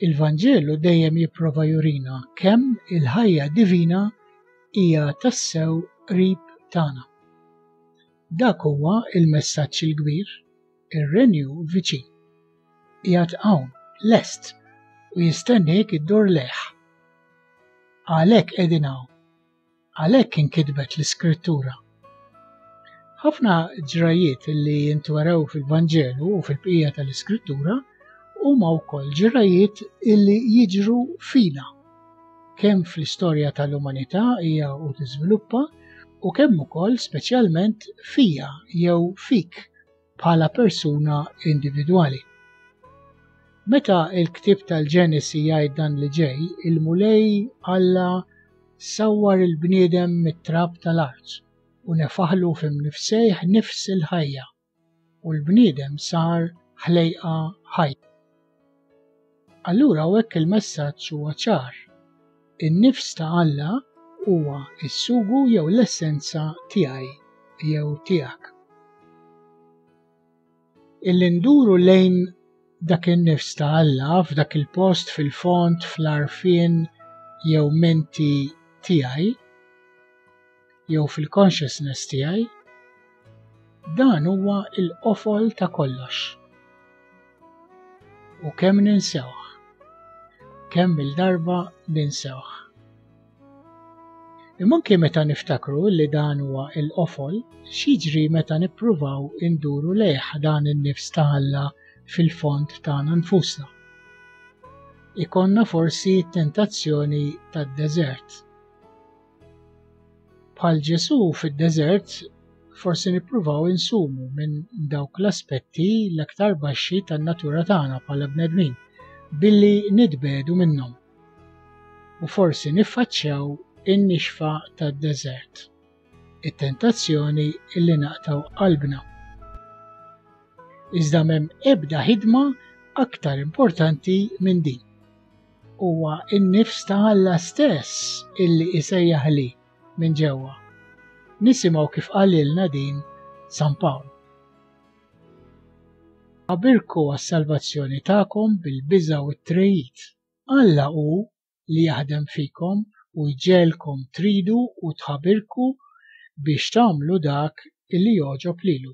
Il-Vanġelu dejjem jipprova jurina kemm il-ħajja divina hija tassew qrib tagħna. Dak huwa il-messaġġ il-kbir, ir-renju viċin. Qiegħed hawn, lest, u jistenniek iddur leħ. Għalhekk qegħdin hawn, Għalhekk inkitbet l-Iskrittura. Ħafna ġrajiet li jintwerew fil-Vanġelu u fil-bqija tal-Iskrittura huma wkoll ġrajiet illi jiġru fina kemm fl-istorja tal-umanità hija u tiżviluppa u kemm ukoll speċjalment fija jew fik bħala persuna individwali. Meta il-ktib tal-Ġenesi jgħid dan li ġej, il-Mulej Alla sawwar il-bniedem mit-trab tal-art u nefaħlu fim nifsejħ nifs il-ħajja u l-bniedem sar ħlejqa ħajja. Allura hekk il-messaġġ huwa ċar. In-nifs ta' Alla huwa s-sugu jew l-essenza tiegħi jew tiegħek. Illi nduru lejn dak in-nifs ta' Alla f'dak il-post fil-fond fl-arfien jew menti tiegħi jew fil-consciousness tiegħi, dan huwa il-qofol ta' kollox. U kemm ninsewh, kemm il-darba ninsewh. Imma anke meta niftakru li dan huwa il-qofol, xiġri meta nippruvaw induru lejh dan in-nifs ta' Alla fil-fond tagħna nfusna. Ikonna forsi tentazzjoni tad-deżert. Bħal Ġesu fid-deżert, forsi nippruvaw insumu minn dawk l-aspetti l-aktar baxxi tan-natura tagħna bħala bnedmin billi nitbedu minnhom. U forsi niffaċċjaw in-nixfa tad-deżert, it-tentazzjoni illi naqtaw qalbna. Iżda m'hemm ebda ħidma aktar importanti minn din. huwa n-nifs ta' Alla stess illi isejjaħli minn ġewwa. Nisimgħu kif qalilna din San Pawl. Abirku għas-salvazzjoni tagħkom bil-biża' u t-trejid. Alla hu li jaħdem fikom u jġegħelkom tridu u tħabirku biex tagħmlu dak illi jogħġob lilu.